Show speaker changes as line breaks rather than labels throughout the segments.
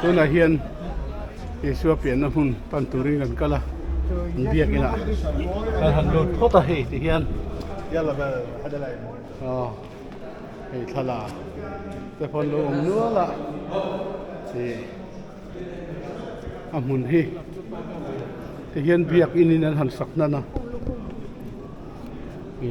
Tunah hian Isua pianna hmun pan turin kan kal a, an biak inah kan han lut phawt a hei ti hian aw hei thlalak te pawh lo awm nual a ni. A hmun hi ti hian biak in in an han sak hnan a ni.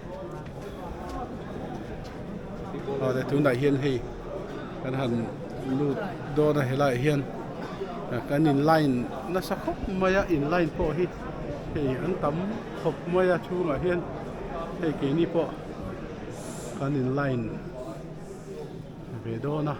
Hnate tunah hian hei kan han lut dawn a helaiah hian kan in line nasa khawp mai a in line pawh hi hei an tam khawp mai a chhungah hian hei keini pawh kan in line ve dawn a ah.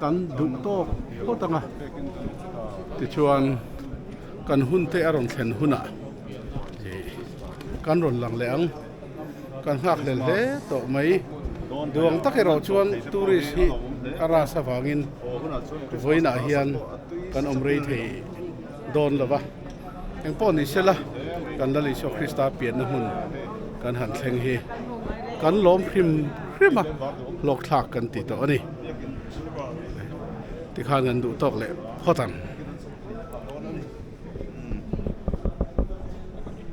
Kan duh tawk phawt ang a, tichuan kan hun te a rawn thlen hunah kan rawn lang leh ang. Kan nghakhlel hle tawh mai. Duang tak erawh chuan tourist hi a ras avangin vawiinah hian kan awm rei thei. Dawn lova, eng pawh ni sela kan Lal Isua Krista pianna hmun kan han thleng hi kan lawm hrim hrim a hlawkthlak kan ti tawh a ni. Tikhan kan duh tawk leh phawt ang.